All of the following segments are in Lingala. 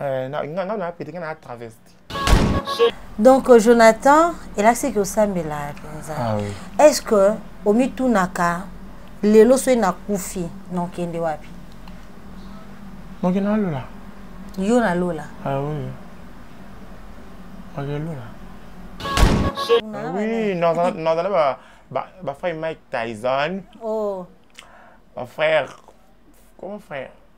Euh, na nga na pete nga na travesti donc euh, jonathan elakisi ke osambela mpenza ah, oui. est ce que omitunaka lelo soki nakufi nokende wapi moke na lola yo na lola ah, oui. moke lola ah, oui nazala bafrère mike tyson oh. bafrère comment frère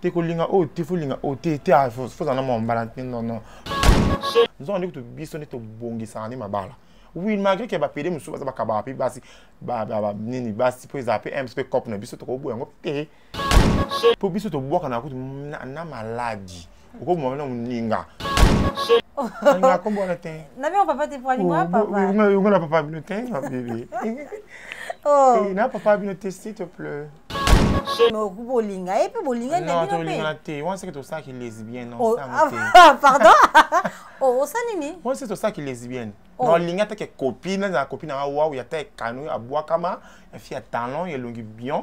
te kolinga oyo te folinga oyo te te ah, fozala na mwa mbala te nono nzongo nde kutu biso nde tobongisaka nde mabala oui malgré ke bapede mosusu baza bakabaka mpe basi nini basi mpo ezala mpe ms mpe cope na biso tokoboya yango te mpo biso tobwakana kutu na maladi okoboma na moninga nga kobola te na bino papa te pwani mwa papa yonga na papa bino te mabebe na papa bino te s'il te plaît bolinga ye mpe bolinga nabinolingana te wana seke tosalaki lesbienne oh, ah, ah, pardon oh, osa nini wana seke tosalaki lesbienne oh. naolinga atake kopi nazala kopi nanga wau ya taye kano ya bwakama ya fi ya talon ya elongi bion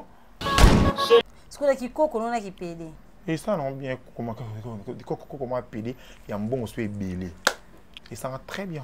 sikoyo na kikoko nona kipede esala nango bien kokoma pede ya mbongo so ebele esanga très bien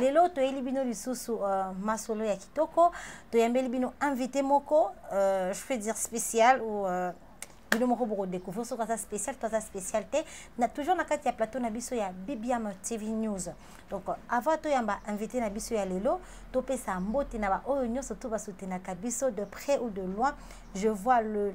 lelo toyeli bino lisusu uh, masolo ya kitoko toyambeli bino invité moko uh, je peux dire spécial ou uh, bino moko bokodécouvrir soki aza spécial to aza spécial te na toujours na kati ya plateau na biso ya bbm tv news donc avant toyamba invité na biso ya lelo topesa mbote na baoyo nyonso to basutenaka biso de près ou de loin je vois le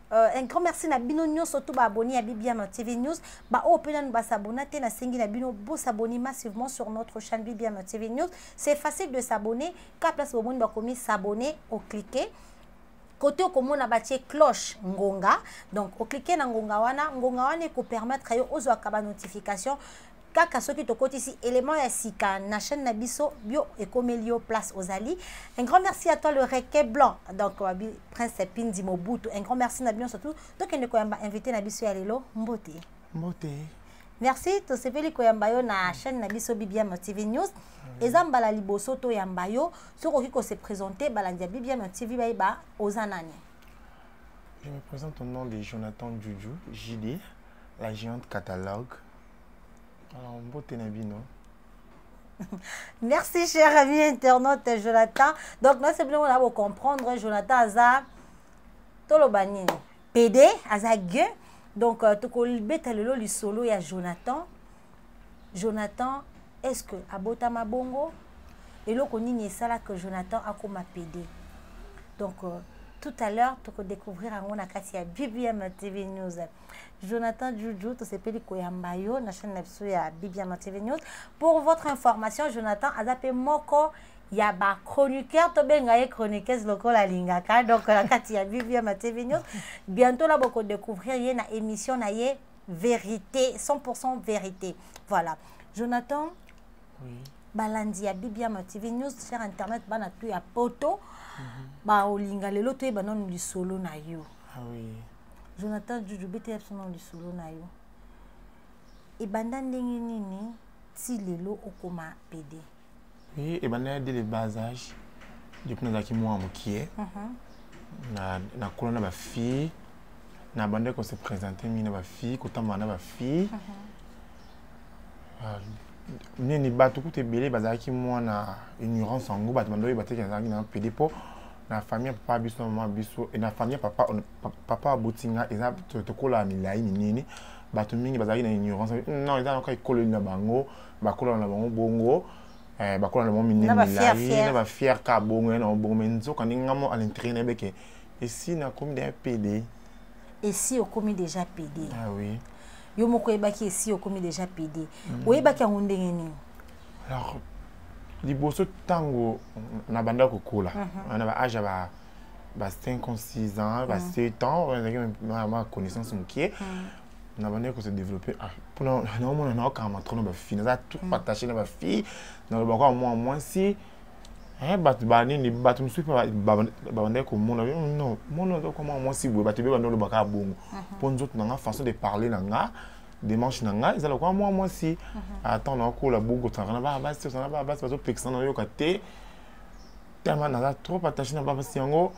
Euh, un grand merci na bino nyonso tout baabonné ya bibiano tv news baoyo mpe nanu basabona te nasengi na bino bosabone massivement sur notre chaîne bibiano tv news c'est facile de s'abonner ka place bomoni bakomi s'abonner ocliquer kote okomona batie cloche ngonga donc oklike na ngonga wana ngonga wana ekopermettre yo ozwaka banotification kaka soki tokotisi élément ya sika na chaîne na biso bio ekomeli yo place ozali un grand merci à toi le requet blanc donc wabi prince pindi mobutu un grand merci na bino surtout tokende koyamba invité na biso ya lelo mbote mbote merci tosepeli koyamba yo na chaîne na biso bbm tv news eza mbala liboso toyamba yo soki okoki kose présente balandi ya bbm tv bayeba oza nani je me présente au nom de jonathan juju jd la géante catalogue Alors, mbote na bino. Merci cher ami internaute Jonathan. Donc non c'est bien on a beau comprendre Jonathan aza toloba nini? PD aza gueux. Donc euh, tokolibeta lelo lisolo ya Jonathan. Jonathan est-ce que abota mabongo? Eloko nini esala que Jonathan akoma PD? Donc euh, tout à l'heure tokodécouvrir yango na kati ya BBM TV News. Jonathan Juju, tosepeli koyamba yo na chaîne na biso ya Bibiana TV News. Pour votre information, Jonathan aza pe moko ya ba chroniqueur tobenga ye chroniqueuse lokola alingaka donc na kati ya Bibiana TV News. Bientôt là boko découvrir ye na émission na ye vérité 100% vérité. Voilà. Jonathan Oui. balandi ya Bibiana TV News sur internet bana tout ya poto. Ba olinga lelo toyeba nanu lisolo na yo. Ah oui. jonathan juju betela biso na lisolo na yo ebanda ndenge nini ti lelo okoma pede e, ebanda ya de le bas age depuis nazalaki mwa mokie mhm. nakola na bafille nabandaki kose présente mingi na bafille kotambola na bafille mhm. ah, nini bato kutu ebele bazalaki mwana ignorance yango bato bando oyeba teke nazalaki na pede mpo na famille ya papa biso na mama biso na famille ya papa papa aboti nga eza tokola milai minene bato mingi bazalaki na ignorance non eza naka ekoleli na bango bakolana na bango bongo eh, bakola na bango minene milai na bafiere ka bongo ya na bongo me nzoka ndenge nga mo alintere na yebeke esi nakomi deja pede esi okomi deja pede ah, oui. yo moko oyebaki esi okomi deja pede mm. oyebaki yango ndenge nini alors liboso ntango nabanda kokola mhm. na baage ya ba ba 5 ans 6 ans ba 7 mm. ans ezalaki ma connaissance mokie mm. nabandaki kose développe ah, mpona naomona naokanga matrono bafille naza tout mm. attaché na bafille nalobaka mwa mwasi eh, bato banini bato mosusu mpe babandaki komona hmm, non mona oza koma mwasi boye bato ebe bandi oloba kaka bongo mhm. mpo nzoto na nga façon de parler na nga démarche na ngai eza lokola mwa mwasi mhm. ata nakola bokotanga na bana basi tozana bana basi bazopekisana nayoka te tama naza trop attaché na bapasi yango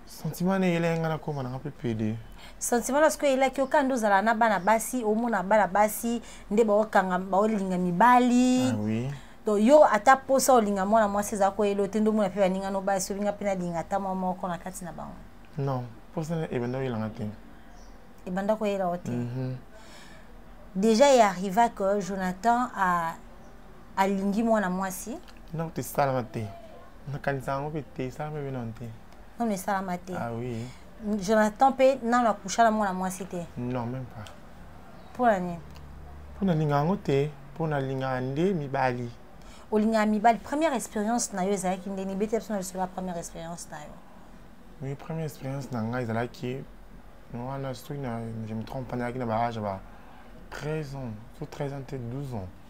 sentiment na eyela yanga nakoma nanga mpe pede sentiment na sikoyo eyelaki yo kandi ozala na bana basi omona bana basi nde baokanga baolinga mibali ah donc yo ata posa olinga mwana mwasi eza koyela ote nde omona mpe baninga no basi olinga mpe nalinga ata mwa moko na kati na bango non posa ebanda oyelanga te ebanda koyela o te mhm. déjà e arriva que jonathan alingi mwana mwasi donc tesalama te nakanisa yango mpe te esalama mpe nano te nano esalama te ah, oui. jonathan mpe nano akusha na mwana mwasi te non même pas mpo na nini mpo nalingaka yango te mpo nalingaka nde mibali olingaka mibali première expérience na yo ezalaki ndeni bete biso na lisolo ya première expérience na yo oui première expérience na ngai ezalaki wana soki je me trompe nazalaki na baage ya ba 13 ans so 13 ans te 12 ans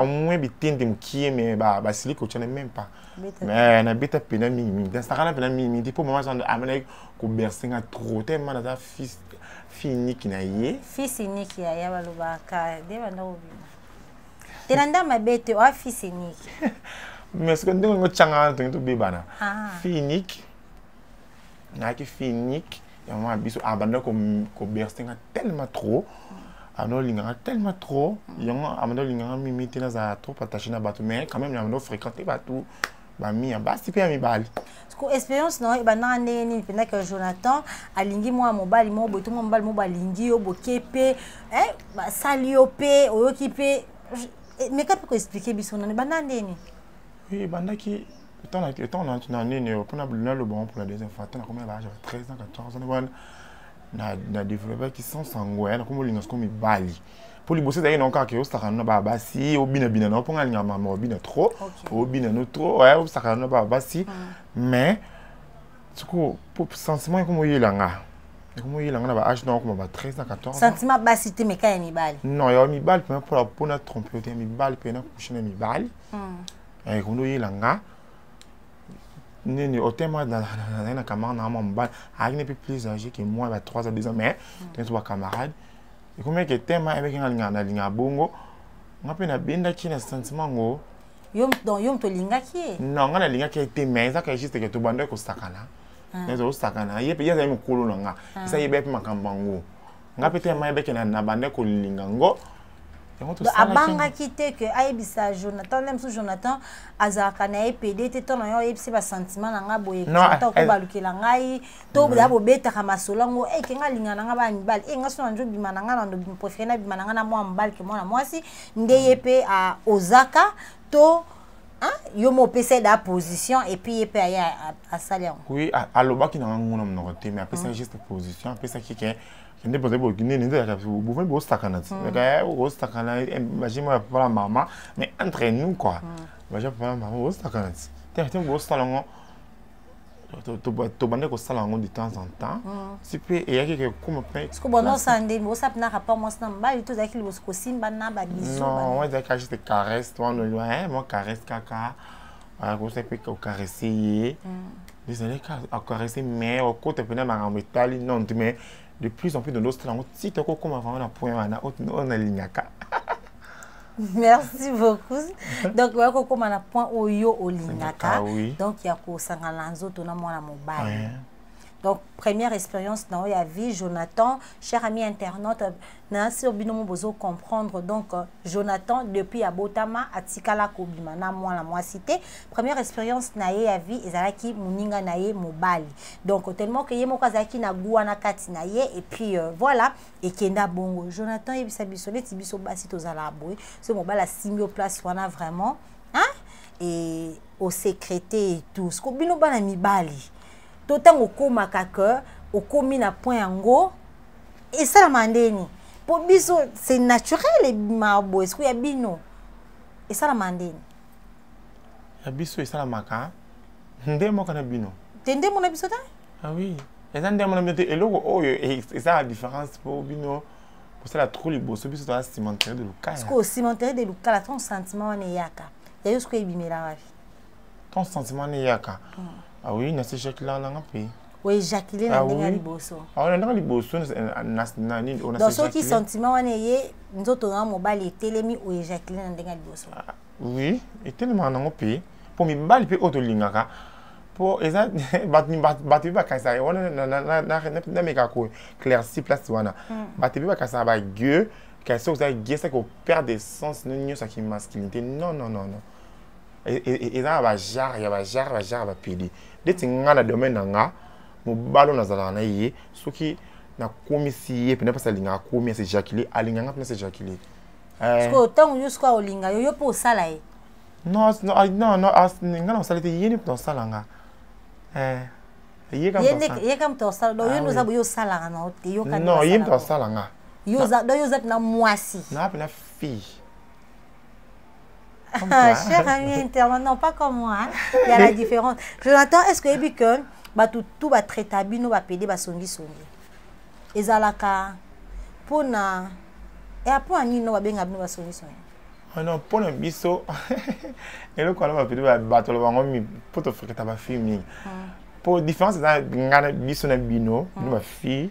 au moins bitende mokie mais basili kotyana même pas mais nabeta mpena mingi mingi nasakana mpena mingi mingi mpo mama zando amelaki koberse nga trop te ma naza fils fille unique na ye fils unique ya ya balobaka nde banda kobima te na nda mabe te oa fils unique mais soki ndenge olingi otyanga wana tongi tobebana fille unique nayaki fille unique yango wana biso abanda koberste nga tellement trop abanda olinga nga tellement trop yango abanda olinga nga mimi te nazala trop attaché na bato mais quand même abanda ofréquente bato bami ya basi mpe ya mibali ko expérience na yo ebandaka ndenge nini mpenza ke jonathan alingi mwa mobali moko boye to mwa mobali moko balingi yo boke mpe eh, basali yo mpe oyoki mpe eh, meka mpe koexplike biso nani ebandaka ndenge nini ebandaki etant na nini oyo mpona naloba yango mpona deuxième fois ata nakomi na baage ya 13 ans 14 ans wana na développaki sans sango ya nakomi olinga siko mibali mpo liboso ezalaki nango kaka osakana na baa basi obinabina nango mpo ngai alingaka mama obina trop obina no trop osakana na baa basi mais siko sentiment ekomi oyela nga ekomi oyela nga na ba age nango koma ba 13 na 14 sentiment basi te meka ya mibali non ya mibali mpenza mpo na trompe yo te ya mibali mpe na kushe na mibali hmm. eh kondo yela nga nini otema nazali na camarade na mwa mobali ayaki ne mpe plus age que moi ba 3 ans 2 ans mais hmm. tene to bacamarade ekomeki etema ebeki nga linga na linga bongo nga mpe nabendaki na sentiment yango yo moto olingaki ye non nga nalingaki ye te mais ezaka juste ke tobandaki kosakana hmm. naza osakana ye mpe ye azali mokolo na nga esa yebaki mpe makambo yango nga mpe tellement ayebaki na banda kolinga ngo abangaki te ke ayebisa jonathan nde mosusu jonathan azalaka na ye pede te to na yo ayebisi basentiment na ngai boye jonathan okobalukela ngai to mm. ya bobetaka masolo yango e eh, ke ngai alinga na ngai bana mibali e eh, ngai so na njo bima na ngai na préféré na bima na ngai na mwana mobali ke mwana mwasi nde ye mpe ozaka to hein? yo mo opesa da position et puis ye pe aye asali yango oui alobaki na ngango na monoko te mais apesaki juste position apesaki ke kende bozali bokinini nde yaka bovandi bosakana ti yaka bosakana baje mwa papa na mama mais entre nous quoi baje papa na mama bosakana ti te te bosala yango tobandaki kosala yango de temps en temps mm. ti mpe eyaki kokoma mpeosala nde osala mpena rapport mwasi na mobali to ozalaki liboso kosimba na babisnon ezalaki juste caresse wana eh, mwa caresse kaka akosa mpe kokarese ye mm. ezalaki akarese mais okota mpena makambo etali nonte mais de plus en plus dans d'autres langues si toko koma vraiment na point wana oyo nalingaka merci beaucoup donc oya kokoma na point oyo olingaka donc ya kosangana na nzoto na mwana mobali donc première expérience na yo ya vie jonathan cher ami internaute na sur bino mo bozo comprendre donc euh, Jonathan depuis abotama atikala kobima na mwana mwasi te première expérience na ye ya vie ezalaki moninga na ye mobali donc tellement que ye moko azalaki na gua na kati na ye et puis euh, voilà ekenda bongo Jonathan yebisa biso neti biso basi tozala boye so mobali asimbi o place wana vraiment hein et au secrété et tout ce ko bino bana mibali to tango komaka que okomi na point yango esalama ndeni mpo biso c'est naturel ebima boye siku ya bino esalama ndeni ya biso esalamaka nde moko na bino te nde mona biso te ah oui eza nde mona bino te eloko oyo e, eza la différence mpo bino kosala trop liboso biso toza cimentere de lukala sikoyo cimentere de lukala ton sentiment wana eyaka yayo sikoyo ebimela wapi ton sentiment wana eyaka hmm. ah oui nasi jacquelin nanga mpe oejakile na ah ndenge ya liboso ah, ndenge liboso na nini donc soki sentiment wana eye nzoto na mobali etelemi oejakile na ndenge ya liboso ah, oui etelemaka nango mpe mpo mibali mpe oyo tolingaka mpo eza bato mpe bakanisaka wana nameka ko clairci place wana hmm. bato mpe bakanisaka bague kasi soki oza gue saki operdre sens no nyonso ya kimasculinité non non non non eza na bajare ya bajare bajare bapedi ndeti ngai na domaine na nga mobali oyo nazalaka na ye soki nakomisi ye mpena mpasi alingaka komi ase jacule alinganga mpena ase jacule sikoyo ntango yo sikoyo olinga yo yo mpe osala ye non non non nga na osala te ye ni mpena osala nga ye ka moto osala donc yo nde oza boye osalaka na te yoka non ye moto asala nga yo oza donc yo oza mpena mwasi na mpena fille Comme toi. Ah, cher ami internet, non, pas comme moi. Hein. Il y a la différence. Jonathan, est-ce que ebi que bah, tout, tout va traiter bino va pédé va songi songi. Et zalaka pour na et après ani no va bien abino va songi songi. Ah non, pour na biso et le quoi va pédé va battre le bango mi pour te faire que ta va filmer. Pour différence na ngana biso na bino, nous va filmer.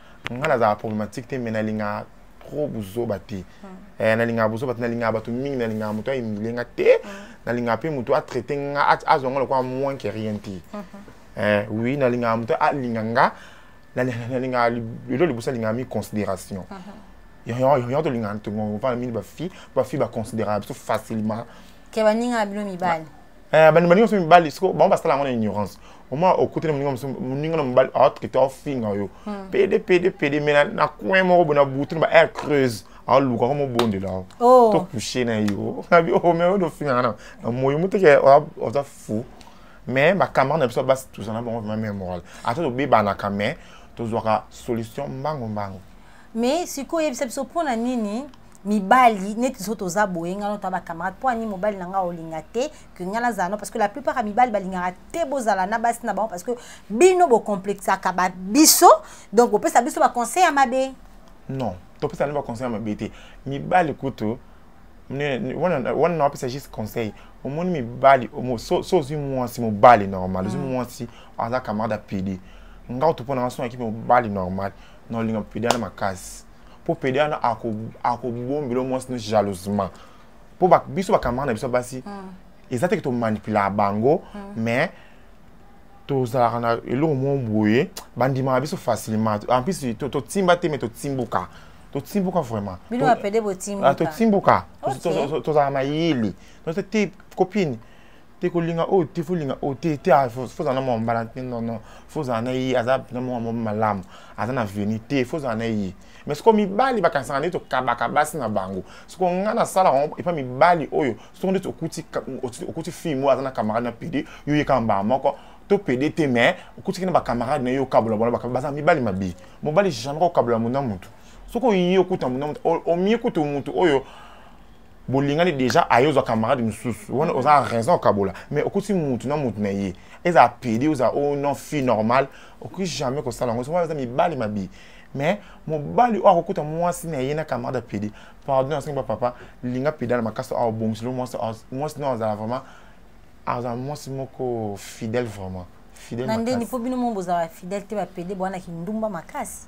nga nazala problématique te mais nalingaka trop buzoba te hmm. eh, nalingaka buzoba te nalingaka bato mingi nalingaka moto ayimile nga te hmm. nalingaka mpe moto atraite nga azwa nga lokola moins que rien te hmm. eh, oui nalingaka moto alinga nga nalingaka lelo liboso alingaka mi considération yango tolingaka ntongova mingi bafille bafille baconsidéraka biso facilement ke baninga na bino mibali Eh, bandi baninga mosusu mibali siko bango basala yango na ignorance oma okuti na moninga mosusu moninga na mobali aotraite aofinga yo hmm. pede pede pede me na coin moko boye na butu na ba air creuse aoluka ko mobondela yo oh. to couche na yo na bi o oh, me oyo ofingaka na na moyi moteke oza fou mais bacamarade na biso basi tozala bango vraimen meme moral ata tobebanaka mais tozwaka solution mbangu mbangu mais sikoyo oyebisa biso mpo na nini mibali neti biso toza boye ngai nota bacamarade mpo ani mobali na ngai olinga te ke ngai nazala no parce que la plupart ya mibali balingaka te bozala na basi na bango parce que bino bocomplexaka ba biso donc bopesa biso baconseil ya mabe non topesa ni baconseil ya mabe te mibali kutu wana nawapesa juste conseil omoni mibali so ozwi mwasi mobali normal ozwi mm. mwasi aza camarade ya pidi ngai oto mpo na ngai so nakipe mobali normal na olinga pidi ana makasi mpo pede wana akobombelo mwasi no jalousement mpo biso bakamara na biso basi mm. eza teke tomanipulaka bango mm. mais tozalaka na eloko moko boye bandimaka biso facilement en plus totimba te mais totimbuka totimbuka vraiment ah, totimbuka tozalaka mayele te copine te kolinga oyo te folinga oyo te te ah, fozala na mwa mbala te nono fozala na ye aza na mwa mwa malamu aza na veni te fozala na ye mais soko mibali bakanisaka nde tokabaka basi na bango soko ngai nasalaka yango epa mibali oyo soko nde okuti fille moko aza na camarade na pede yo yekaka mbala moko to pede te mais okutiki na bacamarade na yo okabola bona baza mibali mabe mobali jamais kokabola mona motu soki oyi okuta mona motu omie kutu motu oyo bolingani déjà aye ozwa camarade mosusu wana oza na raison okabola mais okuti mutu na mutu na ye ezala pede ozala o oh non fille normale okoki jamais kosala yango soki eza mibali mabe mais mobali oyo akokuta mwasi na ye na camarade ya pede pardon asengi bapapa linga pede na makasi awa obongiselo mwasi mwasi na azala vraiment azala mwasi moko fidèle vraiment fidèle makasi na ndeni mpo bino mo bozala fidèle te bapede bwana kindumba makasi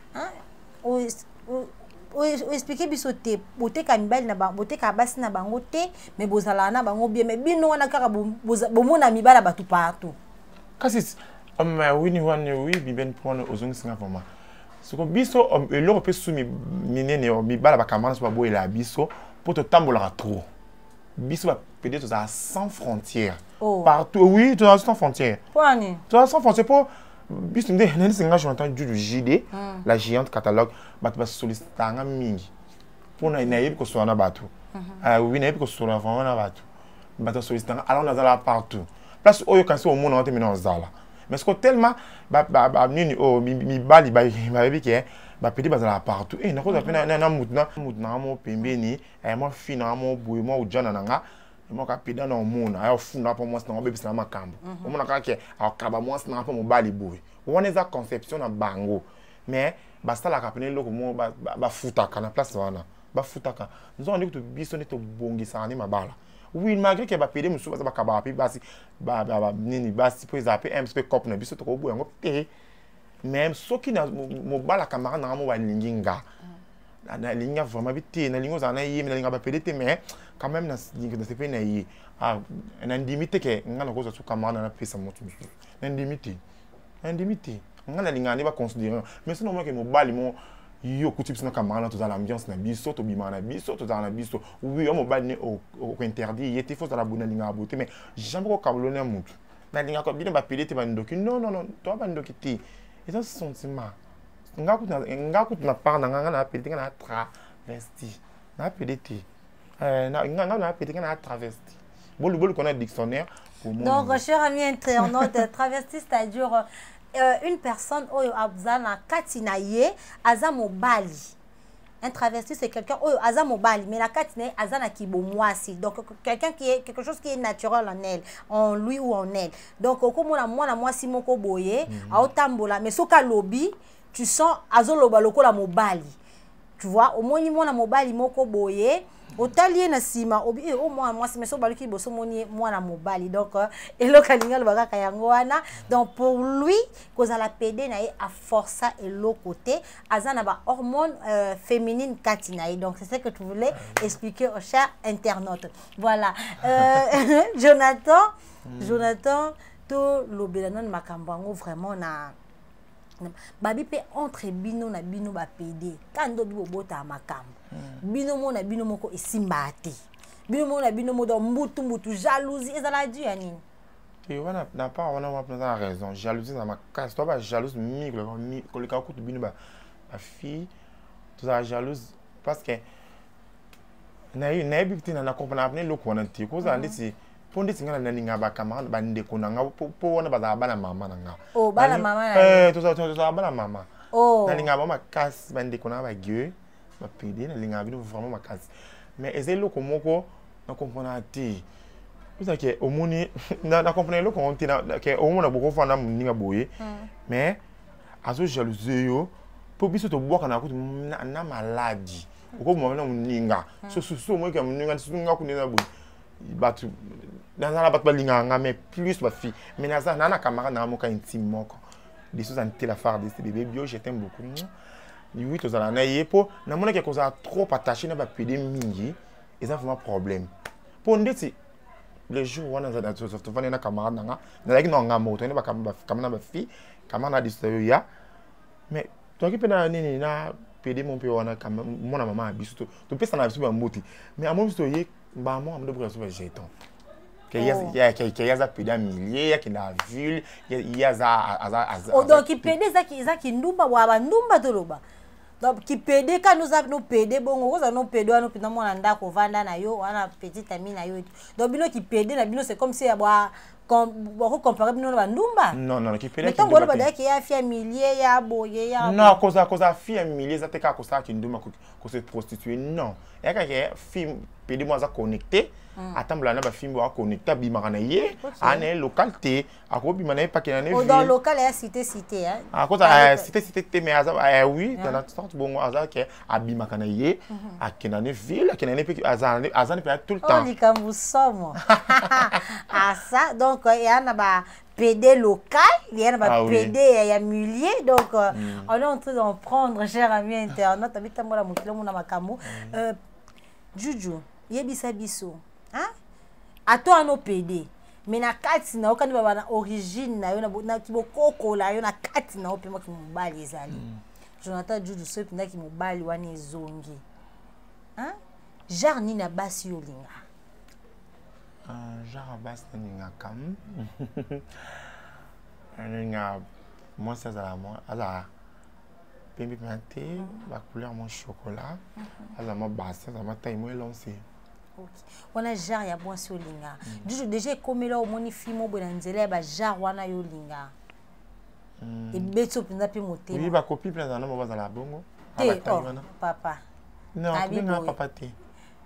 oexplike biso te botekaka mibali na bango botekaka basi na bango te me bozalaka na bango bien me bino wana kaka bomona mibali ya bato partout kasi um, uh, wini wana wi bibeni mpo wana ozongisanga vraimen soko biso um, eloko mpe su minene um, mibala bakamana so baboyelaka biso mpo totambolaka trop biso bapede tozala sans frontière oh. partout oui tozala sans frontière tozala sans frontière mpo biso nde nayebisi nga jonathan judu jide hmm. la géante catalogue bato basolisitaka nga mingi mpo nayebi kosola na bato mhm. ah oui nayebi kosola vraiment na bato bato basolisitaka nga alors nazala partout place oyo kasi omona ngo te mina ozala mais siko tellement nini oyo oh, mibali bayebi ke bapedi bazalaka partout e eh, nakozala mpe na motu na motu nanga mo pembeni eh, mwa fi nanga mo boye mwa ojana na nga moko apeda na omona aya ofunda mpo mwasi nango obebisa na makambo mhm. omona kaka ke akaba mwasi nanga mpo mobali boye wana eza conception na bango mais basalaka pene eloko moko bafutaka na place wana bafutaka nzonga nde kutu biso nde tobongisaka nde mabala oui malgré ke bapede mosusu baza bakabaka mpe basi nini basi mpo ezala mpe mpe cope na biso tokoboya yango mpe te mais soki mobala camarade nanga mo balingi nga mm. nalingi nga vraiment bi te nalingi ozala na ye me nalinga bapede te mais quand même nasepeli na ye ah, nandimi te ke nga nakozwa su camarade napesa moto mosusu nandimi te nandimi te nga nalingaka nde baconsidere mais soki namonake mobali mo yo okuti biso na camarade tozala na ambiance na biso tobimaka na biso tozala na biso wi yo mobali ne okointerdire ye te fo ozala bo nalingaka bo te mais jamais kokabolona ya motu nalingaka bino bapede te bandoki non non non toa bandoki te eza sentiment nga kutu nga kutu na part na nga nga na appeler te nga na travesti na appeler te eh, nga nga na appeler nga na travesti bolu bolu kona dictionnaire pour moi donc cher ami internaute travesti c'est-à-dire euh, une personne oyo aza na kati na ye aza mobali un travesti c'est quelqu'un oyo aza mobali mais na kati na ye aza na kibomwasi donc quelqu'un qui est quelque chose qui est naturel en elle en lui ou en elle donc okomona mwana mwasi moko boye mm -hmm. aotambola mais soki alobi tu sens azoloba lokola mobali tu vois omoni mwana mobali moko boye otali ye na nsima obi e eh, o oh, mwana mwasi mais soki baluki liboso omoni ye mwana mobali donc euh, eloko alingi aloba kaka yango wana donc pour lui kozala pede na ye aforsa eloko te aza na ba hormone euh, féminine kati na ye donc c'est ce que tu voulais ah expliquer au cher internaute voilà euh, jonathan mm. jonathan tolobela nanu makambo yango vraiment na babi mpe entre bino na bino bapede ka ndo bi bobotaka makambo hmm. bino moko na bino moko esimbaka te bino moko na bino moko donc mbutu mbutu jalousie ezala du ya nini te wana na part wana wana mpenza na raison jalousie na makasi toa bajalouse mingi koleka kutu bino bafille tozala jalouse parce que nayebi te na comprendre apne eloko wana te kozala mhm. ndeti mpo ndeti ngai nalinga bacamarade bandeko na ngai mpo wana bazala bana mama na ngai oh, eh, tozala bana mama oh. nalinga bango makasi bandeko na ngai bague ba pede na linga bino vraiment makasi mais eza eloko moko na comprendre te eza ke omoni na na comprendre eloko ngo te na ke omona boko fana muninga boye hmm. mais azo jalouse yo po biso to bwaka na kutu na maladi okoboma na muninga hmm. so so so moyeke ya muninga so nga kuna na boye bato naza na bato balingaka nga mais plus bafille mais naza naa na camarade nanga moka intime moko biso oza ntela fardc bebe bio je t'aime beaucoup oui tozala na ye mpo namonaki akozala trop attaché na bapede mingi eza vraiment problème mpo ndeti le jour wana tofandi na camarade na nga nazalaki na nga moko toyende bakama na bafille camarade na disto yo ya mais toyaki mpe na nini na pede mo mpe wana mwana mama ya biso topesana biso bambuti mais amoni biso toye mbaa mwa mdo boka zoba jeton ke aza pede ya milieu yake na ville ye azadonc kipede eza kindumba wa bandumba toloba donc kipede kani oza no pede bongo okozala no pede wana mpenza mwana ndako ovanda na yo wana petit ami na yo donc bino kipede na bino c'est comme si ya bwa bakocompare bino na bandumba ntango oloba dayaki ya fi ya milie ya boye ya non kozala kozala fi ya milie eza te kaka kosala kindumba koki ko se prostituer non yaka ke film pede mo aza connecté hmm. atambola na bafimbo aconnecte abimaka na ye aa na ye local te akobima na ye pakena ne akozala cité cité te mais aza eh oui dans la sorte bongo aza ke abimaka na ye mhm. akenda ne ville akenda ne mpe aza ne mpe tout le oh, temps likambo somo asa ah, donc eya eh, na ba PD local, il y a ah, PD, il y a milliers, donc euh, mm. on est en train d'en prendre, cher ami internaute, avec ta mola mokilo mona makamu. Mm. Euh, Juju, yebisa biso, hein? À toi nos PD. Mais na kati na okani baba na origine na yo na na kibokoko la yo na kati na ope mwa kimobali ezali. Mm. Jonathan Juju so pinda kimobali wana ezongi. Hein? Genre nini na basi yo linga? Ah, genre ya basi nalingaka nalinga mwasi azala azala pembe mpenza te bacouleur mwa chocolat azala mwa basi azala mwa taille mwa elonse wana genre ya mwasi olinga juju mm. deja ekomela omoni fimo oboye na nzela ya bagenre wana yo olinga mm. ebeti yo mpenza mpe motema bakopi mpe azala na mo bazala bongo te oh, papa non papa te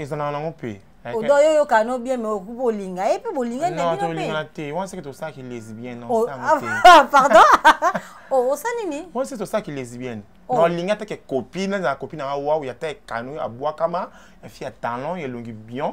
ezalaka nango mpe odo yo yoka no bien mais okubi olinga ye mpe bolinga nabinolingana te wana seke tosalaki lesbienne oh, ah, ah, pardon oh, osa nini wana seke tosalaki lesbienne oh. naolinga atake copine nazala copine anga wau ya taye kano abwakama ya fi ya talon ya elongi bion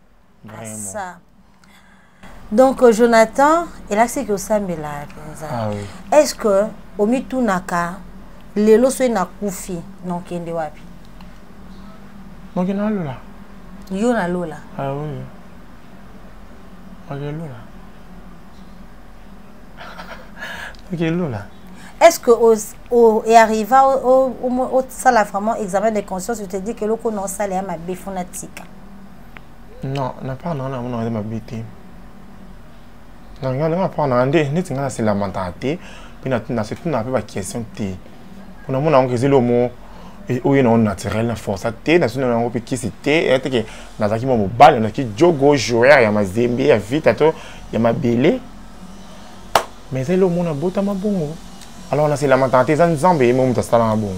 Vraiment. donc euh, jonathan elakisaki osambela mpenza ah, oui. est ce que omitunaka lelo soki nakufi nokende wapi moke na lola yo na lola ah, oui. moke lola moke lola est ce que earriva osala vraiment examen de conscience ote di ke eloko na osala ya mabe fo na tika Non, na pas na na mona eza mabe te. Na nga na pas na nde neti nga na se lamenta te, pe na na se tuna pe ba question te. Kuna mona ngo ezelo mo e oyo na naturel na force te na sino na ngo pe kisi te ete ke na zaki mo mobali na ki jogo joueur ya mazembe ya vita to ya mabele. Mais ezelo mo na bota mabongo. Alors na se lamenta te eza nzambe ye mo mutasala mabongo.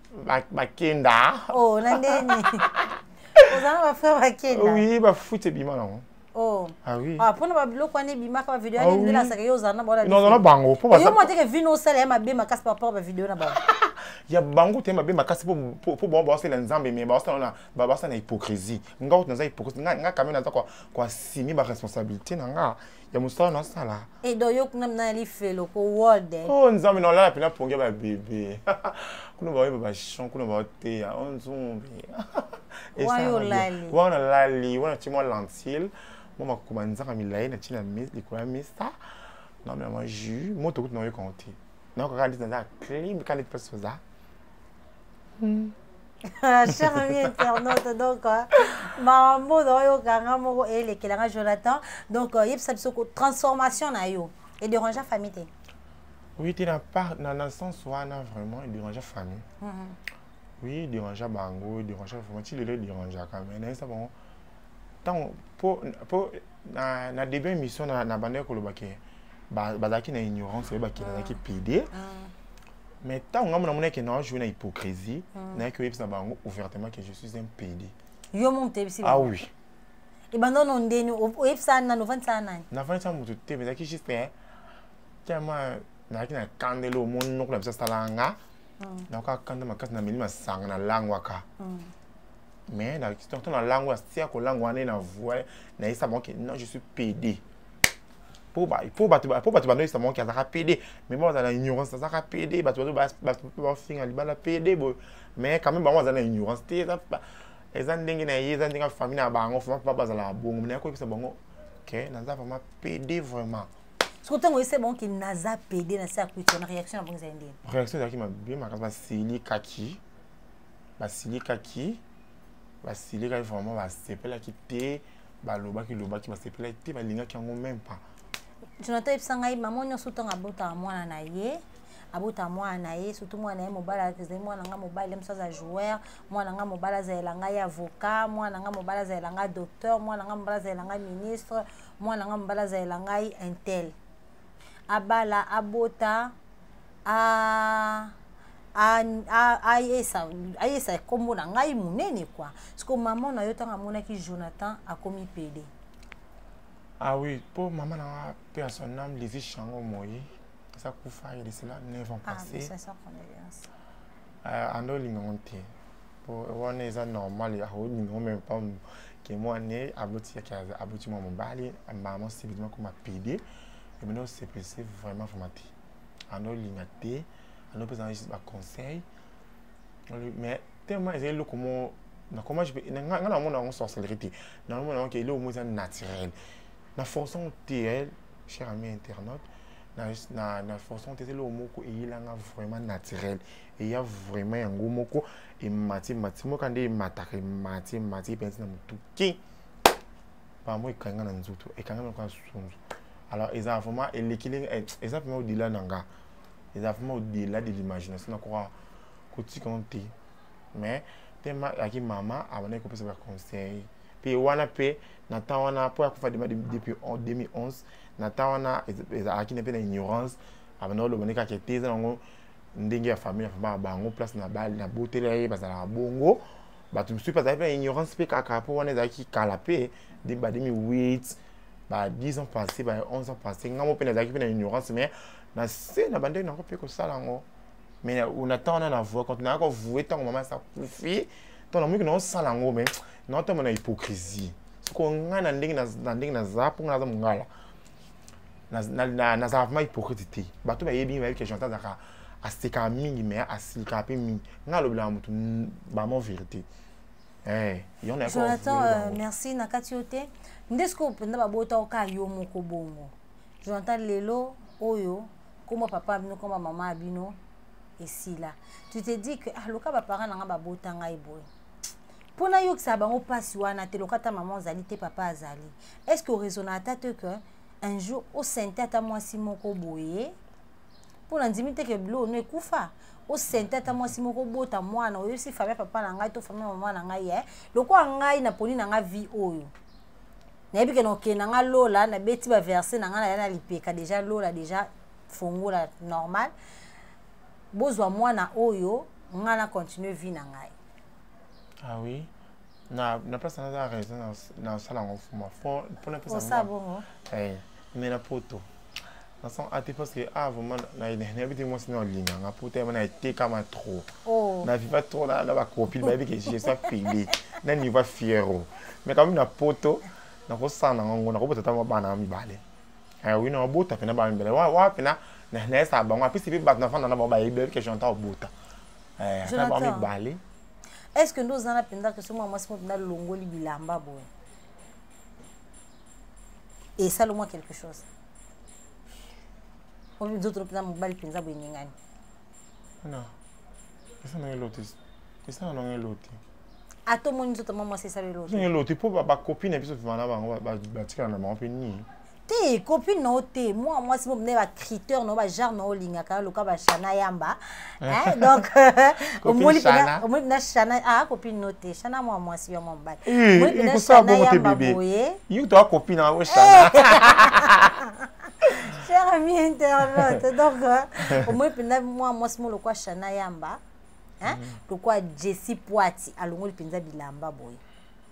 bakenda ba oh, na ndeni oza na bafrère bakenda oui bafuti ebima nango Oh. Ah oui. Ah, pona ba biloko wana ebimaka ba video ah wana ndela asaka yo ozana bona. Non non bango po ba. Yo mo teke vino sala ya mabe makasi par rapport ba video na bango. ya bango te mabe makasi po po bango ba sala nzambe mais ba sala na ba ba sala na hypocrisie. Nga otu naza hypocrisie nga nga quand même naza ko ko assumer ba responsabilité na nga. ya mosala na asala edo yo kuna mina lifelo ko world eh. oh nzambe na olala pena pongia ba bebe kuna ba yeba ba chant kuna ba teya on oh, zombi wayo lali wana lali wana timwa lentille mo makoma nzaka milayi na tina likolo ya mista na mela mwa jus moto kutu na oyo konte na kaka ndeti naza clim kaka ndeti place oza Mm. Ah, cher ami internaute donc euh, mambo na oyoka nga moko elekela nga jonathan donc euh, yebisa biso transformation na yo edérangea famille te oui te na sens wana vraiment edérangea famille mm -hmm. oui edérangea bango edérangea vraiment ti lelo edérangeaka mais nayebisa bango ntango mpo na, na début émission na, na bandaki koloba ke bazalaki na ignorance oyebaki nazalaki pede mm. mais ntango ngambo namoni eke na joue na hypocrisie hmm. nayaki oyebisa bango ouvertement que je suis un pd yo mo moto yebisi ah oui ebanda ono ndeni oyebisa nani ovandisa nani navandisa moto te mais ezalaki juste eh, tellement nazalaki na kandelo omoni noko na biso asalaka nga hmm. nayoka kanda makasi na meli masanga nalangwaka hmm. mais na histoire to na lango ya sia kolango wana na voie na yesa bango ke non je suis pede po ba po ba po ba ba noisa mon kaza PD mais moi dans l'ignorance ça ka PD ba to ba ba ba finga li bala PD bo mais quand même ba moi dans l'ignorance te ça ba eza ndenge na ye eza ndenge famille na bango fama pa ba zala bongo mais ko pesa bongo que naza vraiment PD vraiment soki ntango oyese bango ke naza pede na se akuiti wana réaction na bango ezali ndeni réaction ezalaki mabe makasi basilikaki basilikaki basilikaki vraiment basepelaki te balobaki lobaki basepelaki te balingaki yango meme pas jonathan yebisa ngai mama nyonso ntango abotaka mwana na ye abota mwana na ye surtout mwana na ye mobali azali mwana nga mobali ye mosu aza joueur mwana nga mobali azalela ngai avocat mwana nga mobali azalela ngai docteur mwana nga mobali azalela ngai ministre mwana nga mobali azalela ngai intel abala abota a ayesa ayesa kombo na ngai monene kwa siko mama na yo ntango amonaki jonathan akomi pede ah oui mpo mama na nga mpe ya son ame lisi shango moi aza kufa ye lisila 9 ans ah, passé ah, ando olinga ngo te wana eza normal ya olingo meme pas ke mwane aboti aboti mwa mobali mbala mwa sepeli makoma pede emene osepelise vraiment vraiment te ando olinga te ando opesa na juste baconseil mais tellement ezali eloko mo na comment je peux nga na mona yango sorcellerie te na mona yango ke eloko mo eza naturel na force yango te cher ami internaute na force yango te eza eloko moko eyelanga vraiment naturel eya vraiment yango moko emati mati moka nde emataka emati emati epenzi na motu ki bango ekanga na nzoto ekanga na lokola sunzu alors eza vraiment eleki ndenge eh, eza vraiment odela na nga eza vraiment odela de l'imagination nakoka kotika ngo te mais tema ayaki mama abandaki kopesa baconseil mpe wana mpe na temps wana mpo akufa dema depuis 2011 na temps wana ezalaki na mpe na ignorance abandaki oloba nde kaka te eza nango ndenge ya famille vraiment ya bango place na bali na botela ye bazalaka bongo bato mosusu mpe azalaki na ignorance mpe kaka mpo wana ezalaki kala mpe ba 2008 ba 10 ans passé ba 11 ans passé ngai moko mpe nazalaki mpe na ignorance mais na se na bandenge nango mpe kosala yango mais na ntango wana na voie quand nayaki kovoue ntango mama asa kufi ntango namoki naosala yango mais naotama na hypocrisie soko ngai na ndenge na ndenge naza mpo ngai naza mongala nazalaka vraiment hypocrite te bato bayebi bayebi ke jonathan azalaka asekaka mingi me asilikaka mpe mingi ngai alobelaka moto bamo vérité eh, jonathan euh, merci na kati yo te nde sikoyo mpenza babota oka yo moko bongo jonathan lelo oyo koma papa bino koma mama ya bino esila tu te dis que ah loka baparent na ngai babota ngai boye mpo nayokisa bango mpasi wana te loka ata mama ozali te papa azali est ce que oraisonna ata te que un jour osente ata mwasi moko boye mpo nandimi te ke bilo ono ekufa osente ata mwasi moko obota mwana oyosi famille ya papa na ngai to famille ya mama na ngai ye lokola ngai naponi na ngai vie oyo nayebi ke nokende na ngai lola nabeti baverse na ngai naya na lipeka deja lola deja fongola normal bozwa mwana oyo ngai na continue vie na ngai ah oui na na place na za raison na na sala ngo fuma fo pona pesa ça bon eh mais na poto na sens ate ah, parce que ah vraiment na ina na biti moi sinon linga nga poto ya na te kama trop oh. na viva trop na na ba copine ba bi que je suis pili na niveau fiero mais quand même na poto na ko sana ngo na ko botata ma bana mibale eh oui na bota pena ba mibale wa wa pena na na sa bango apesi pe ba na fana na ba ba ibe que j'entends bota eh, jonathan est ce que nde oza na mpenza ke soki mwa mwasi moto nalongoli bilamba boye esali mwa quelque chose oyo nzoto mpenza mobali mpenza boye ningani non esa na eloti esa na nanga eloti ata omoni nzoto mwa mwasi esali eloti eloti mpo bacopine na biso vivana bango batikala na bango mpe nini te copine na yo te mwana mwasi mo mine bacriteur na yo bagenre na yo olingaka yo loka bashana yamba donc omoni mpena shana a copine no te shana mwana mwasi yo mwa mobali omoni mpena shana yamba boye yo toa copine na yo shana cher ami internaute donc omoni mpena mwana mwasi mo lokwa shana yamba lokwa jessi poati alongoli mpenza bilamba boye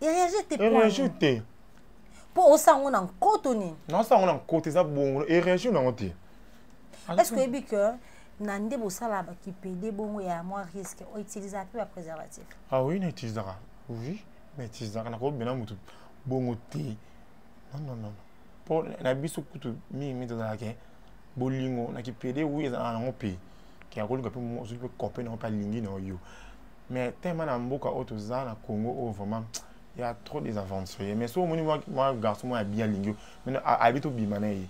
ereage te ereage te mpo osango na nkoto nini naosango na nkoto eza bongo ereage nango te est ce que oyebi que na nde bosala bakipede bongo ya mwa risque outilisaka mpe bapreservatif ah oui na utilisaka oui na utilisaka nakobela motu bongo te nonnono mpo na biso kutu mingi mingi tozalaka bolingo na kipede oui ezalaka nango mpe ke akolinga mpe ozwi mpe kope nango mpe alingi na yo mais tellement na mboka oyo toza na congo oyo vraiment il y a trop des aventuriers mais soki omoni mwa garçon moko abi alingi yo abi tobima na ye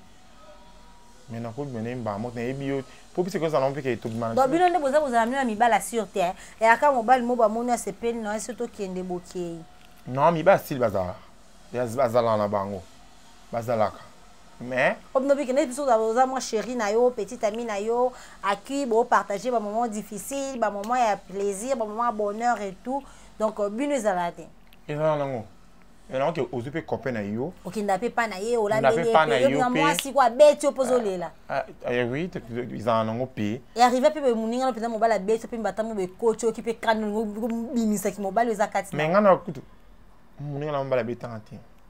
mais nakobima na ye mbaa moko nayebi yo mpo bisi kozala mpe ke tobima na bino nde boza kozala mino ya mibala sur te eh. eyaka mobali mo bamoni asepeli na ye so tokende bokei non mibala sili bazala bazalaka na bango bazalaka mais obinobiki neti biso oza mwa chéri na yo petite ami na yo accueil bopartage bamoment difficile bamoment ya plaisir bamoment ya bonheur et tout donc euh, bino ezala te ezala nango yango ke ozwi mpe kope na yo okenda mpe mpa na ye olandeyepeyoa mwasi ko abeti yo mpo ozolela ah, ah, eh oui ezala nango mpe earrive mpe moninga no mpenza mobali abeti yo mpe mbatango bekoti oki mpe kani bimisaki mobali oza kati me ngai na kutu moninga na mobali abetanga te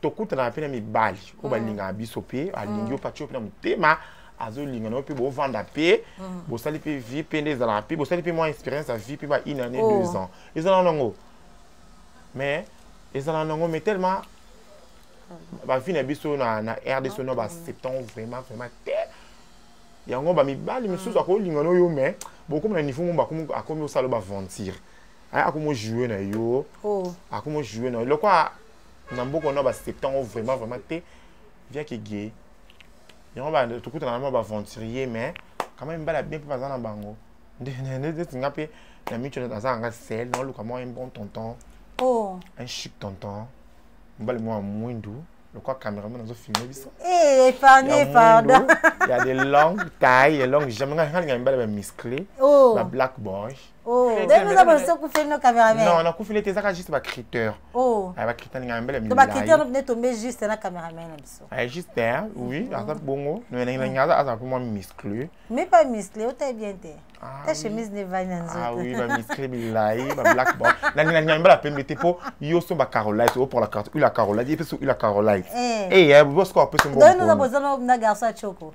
tokutanaka mpe na mibali oyo mm. balingaka biso mpe alingi mm. yo mpe atyo mpe na motema azolinga nayo mpe bovanda mpe mm. bosali mpe vie mpe nde ezalaka mpe bosali mpe mwa expérience ya vie mpe ba une année oh. deux ans ezalaka nango mais ezalaka nango mais tellement bavie na biso na, na rdc no baceptan vraiment vraiment te yango bamibali misusu akolinga no yo mais bokomi na niveau mo akomi osala baventure akomi ojoue na yo oh. akomi ojoue na yo lokwa na mboka wana baaccepta yango vraiment vraiment te viaki ge yango tokutana na mwa baaventurier mais quand même bala bien mpe baza na bango ndeti nga mpe na mico aza nanga sel naoluka mwa un bon tonton oh. un chic tonton mobali mwa mwindu lokola cameraman azofilme biso eh, ya de longue taille ya longue jamais nga nga mibali bamuscle oh. ba black boy Oh. ndenge oza bosi okufeli no cameraman non nakufeli te ezaka juste bacritère oh. ah, bacritère ninga mbele to bacritère nde tombe juste na cameraman na biso ah, juste hein, oui aza bongo nalinga aza aza mpe mwa muscle mais pas muscle otai bien te ah, ta chemise ne vai na nzoto ah oui ba muscle bilai ba black bon na na na mbala pembe te po yo so ba carolite o pour la carte ula carolite et puis ula carolite eh eh bo score pe so bon donc nous avons besoin na garçon choko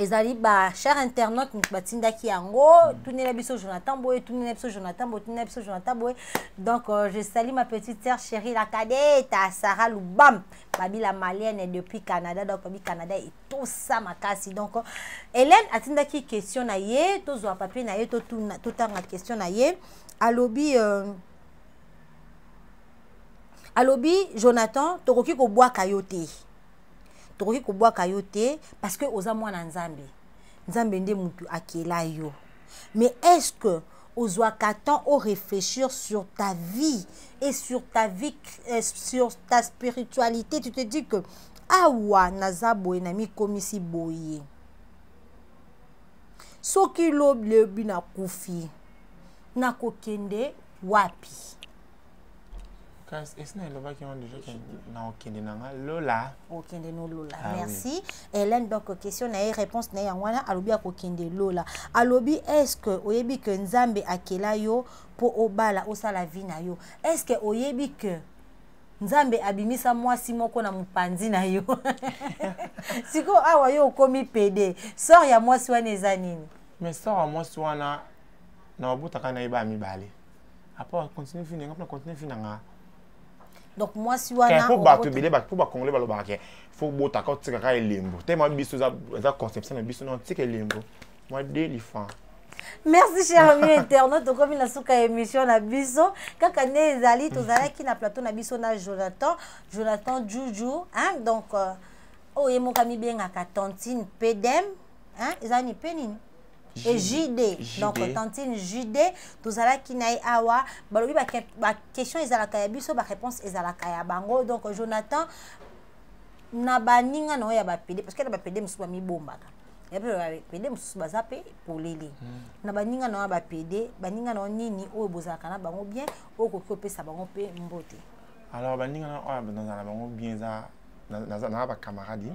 ezali ba cher internaute moto batindaki yango mm. tunela biso jonathan boye tunela biso jonathan boye tunela biso jonathan boye donc euh, je salie ma petite sœur chérie la cadeta sarah lubam babila malienne depuis canada donc babi canada etosa makasi donc euh, hélène atindaki question na ye tozwa papier na ye totanga question na ye alobi euh, alobi jonathan tokoki kobwaka yo te tokoki kobwaka yo te parce que oza mwana nzambe nzambe nde mutu akela yo mais est ce que ozwaka temps o réfléchir sur ta vie et sur ta vie euh, sur ta spiritualité tu te dis que awa naza boye na mikomisi boye soki lobi lobi nakufi nakokende wapi kasi esi nalobaki yango deja na okende na nga lola okende no lola ah, merci oui. hélène donc question na ye réponse na ye yango wana alobi akokende lola alobi est ce que oyebi que nzambe akela yo mpo obala osala vie na yo est ce que oyebi que nzambe abimisa mwasi moko na mopanzi na yo sikoyo awa yo okomi pede sor ya mwasi wana eza nini mais sor ya mwasi wana na babutaka na ye baya mibale après continue vie nanga continue vie nanga donc mwasi wana po bato ebele po bacongolais balobaka ke fo botaka otikaka elembo tema biso eza conception na biso na otika elembo mwa delifan merci cher ami internaute tokomi na suka ya émission na biso kaka nde ezali tozalaki na plateau na biso na jonathan jonathan juju hein? donc euh, oyo oh, ye moko amibengaka tantine pedem hein? eza ni mpe nini et JD. JD. Donc tantine JD, tozalaki na ye awa, balobi ba, ba question ezalaka ya biso, ba réponse ezalaka ya bango. Donc Jonathan na baninga na yo ya bapede parce que na bapede mosusu bamibombaka ya mpe bapede mosusu baza mpe polele hmm. na baninga na yo ya bapede baninga na yo nini oyo bozalaka na bango bien oyo okoki kopesa bango mpe mbote alors baninga na oyo nazala bango bien eza naza na bacamarade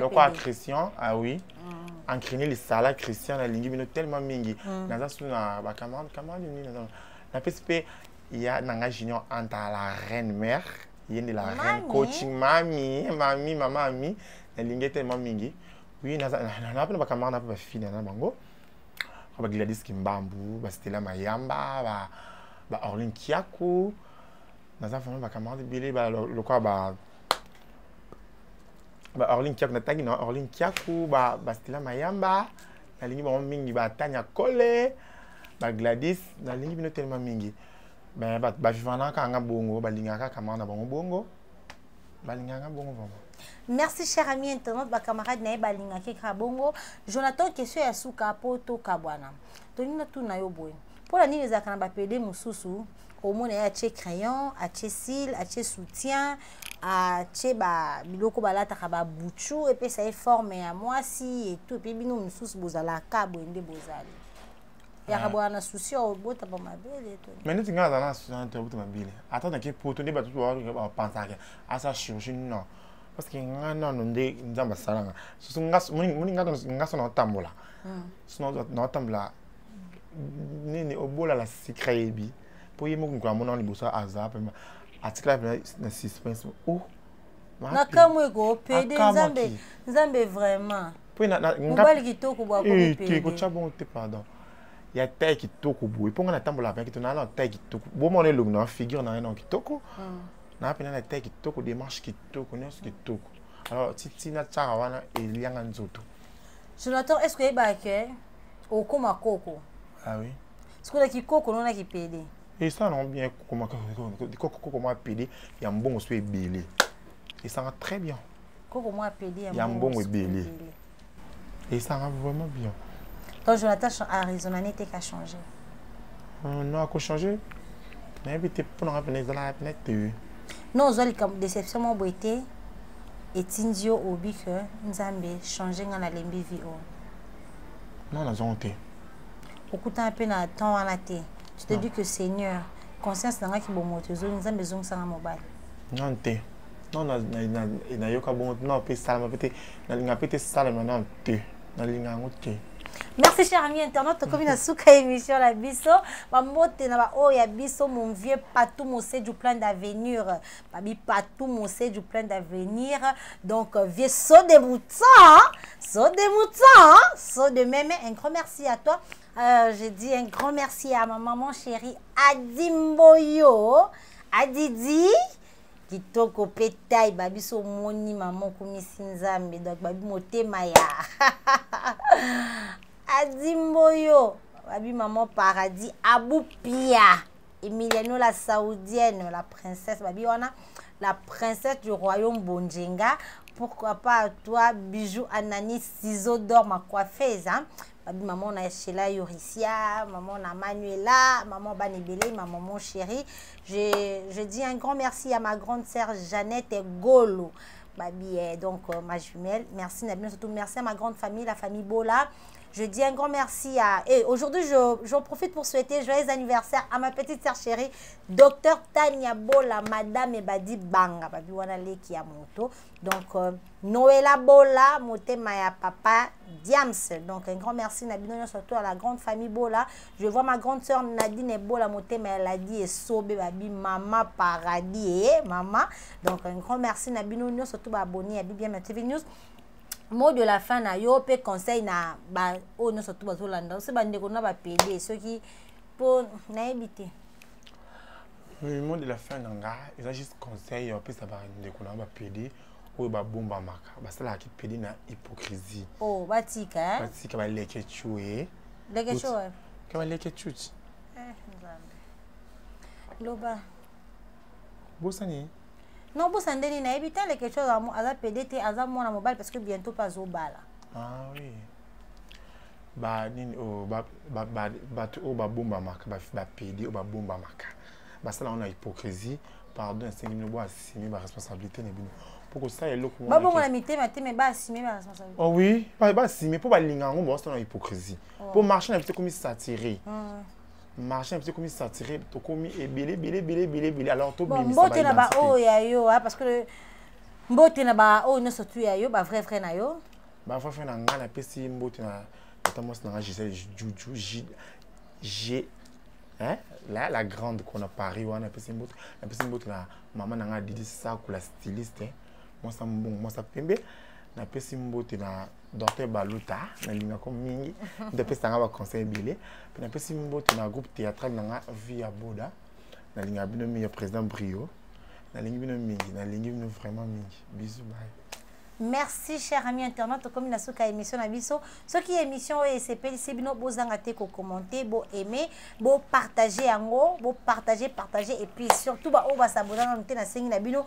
lokola christian ah oui mm. encrine lisala christian nalingi bino tellement mingi mm. naza su na bacamarade camarade nini naza napesi mpe ya na ngai junior anta la reine mère ye nde la reine coaching mami mami mama ami nalingi tellement mingi oui naza na mpe na bacamarade na mpe bafine na bango bagladis kimbambu bastela mayamba ba, ba orlin kiaku naza vraiment bacamarade ebele lokola ba, ba ba orlin kiaku natangi na orlin kiaku ba bastila mayamba nalingi bango mingi ba tanya kole ba gladis nalingi bino telema mingi me bavivanaka yanga bongo balingaka kaka mama na bango bongo balingaka bongo vraimen merci cher ami internaute bacamarade na ye balingaki kaka bongo jonathan question ya suka mpo tokabwana tolingi natuna yo boye mpo na nini ezalaka na bapede mosusu omona ye atie crayon atie sile atie soutien atie ba biloko balataka babuchu epesa ye forme ya mwasi etu epe bino mosusu bozalaka boye nde bozali yaka ah. boya na susi obota ba mabele mais neti ngai azala na susi na te obota mabele ata nake poto nde bato bapansaka asa chirurgie non parce que ngai nano nde nzambe asalanga soso moni ngai ngai so naotambola hmm. so naotambola nini obola la sikra yebi po ye moko mokolo amona liboso aza pema atikala pema na suspense o oh, nakamwe ko pede nzambe nzambe vraiment mobali kitoko bwakokocha eh, bongo te pardon ya tai kitoko boye mpo ngai natambolaka mpe kitoko naa na tai kitoko bomona elongi na figure na ngai na kitoko hmm. naa mpe na na tai kitoko démarche kitoko nyonso kitoko alors titina tiaka wana elianga nzoto jonathan est ce que oyebaka ke okoma koko ah oui sikoyo na kikoko nona kipede esala nango bien koko mwa pede ya mbongo so ebele esanga très bien koko mwa pede ya mbongo ebele esanga vraiment bien donc jonathan arizona nete ka change euh, non akochange nayebi te mpo nanga pene ezalaka pene te non ozwa likambo déception mwa boye te etindi yo obi ke nzambe change ngai nalembi vi oyo non nazongo te okutana mpe na temps wana te tu te dis que seigneur conscience na ngai kibomoto ezongi nzambe ezongisanga mobali non te non nayoka bongo non mpe esalama mpe te nalinga mpe te esalama non te nalinga yango te merci cher ami internet tokomi na suka ya émission na biso bambote na baoyo ya biso mon vieux patou mose du plan d'avenir babi patou moseju plein d'avenir donc euh, vieux so de mouton so de mouton so de meme un grand merci à toi euh, je dis un grand merci à ma maman chérie adimboyo adidi kitoko mpe tai babi so omoni mama okumisi nzambe donc babi motema ya adimboyo babi mama paradis abupia Emiliano la saoudienne, la princesse babi wana, la princesse du royaume Bonjenga, pourquoi pas toi bijou anani ciseaux d'or ma coiffeuse hein? babi maman na Sheila Yurisia, maman na Manuela, maman Banibele, ma maman chérie. Je, je dis un grand merci à ma grande sœur Jeannette Golo. Babi, eh, donc euh, ma jumelle, merci Nabino, surtout merci à ma grande famille, la famille Bola. Je dis un grand merci à... Et aujourd'hui, j'en je, profite pour souhaiter joyeux anniversaire à ma petite sœur chérie, docteur Tania Bola, madame Ebadi Banga, babi wana leki ya moto. Donc, euh, Noëlla Bola, motema ya papa Diams. Donc, un grand merci Nabino, surtout à la grande famille Bola. Je vois ma grande sœur Nadine Bola, motema ya Ladi et Sobe, babi Mama Paradis, eh, Mama. Donc, un grand merci Nabino, surtout abonné à BBM TV News. mot de la fin na yo mpe conseil na ba oyo oh, nyonso tu bazolanda ose bandeko na bapede soki mpo nayebi te mot de la fin na nga eza juste conseil ya opesa bandeko na bapede oyo babombamaka basalaka kipede na hypocrisie oh, batika eh? batika baleke cue leke cue ke baleke cuci eh, loba bosani non bosa nde nini nayebi te leke chose aza pede te aza mwana mobali parce que bientôt mpe azobala ah, oui. banini oyo bato oyo babombamaka bapede oyo babombamaka basala yango na hypocrisie pardon esengi bino boasime baresponsabilité na bino mpo kosala eloko babongola mitema te me baasime baresponsabilité oh oui baasime mpo balinga yango baosala na hypocrisie mpo oh. marché na biso ekomi satire ah. marché na biso ekomi saturé tokomi ebele ebele ebele ebele ebele alors tobimbote na baoyo ya yo parce que mbote na baoyo nyonso tu ya yo bavrai vrai na yo bavrai vrai na ngai napesi mbote na tata mwasi na ngai gisele juju g hein? la, la grande qu'on a paris wana napesi mbote napesi mbote na mama na ngai didi sakula styliste hein? mwasa mbongo mwasa pembe napesi mbote na docteur baluta nalingako mingi nde apesa nga baconseil ebele mpe napesi mboto na groupe théâtral na nga vie ya boda nalingaka bino mingi ya président brio nalingi bino mingi nalingi bino vraiment mingi bisu baye merci cher ami internet tokomi na suka ya émission na biso soki émission oyo esepelisi bino bozanga te kokommente boaime bopartage yango bopartage partage epuis surtout baoyo basabona nanu te nasengi na bino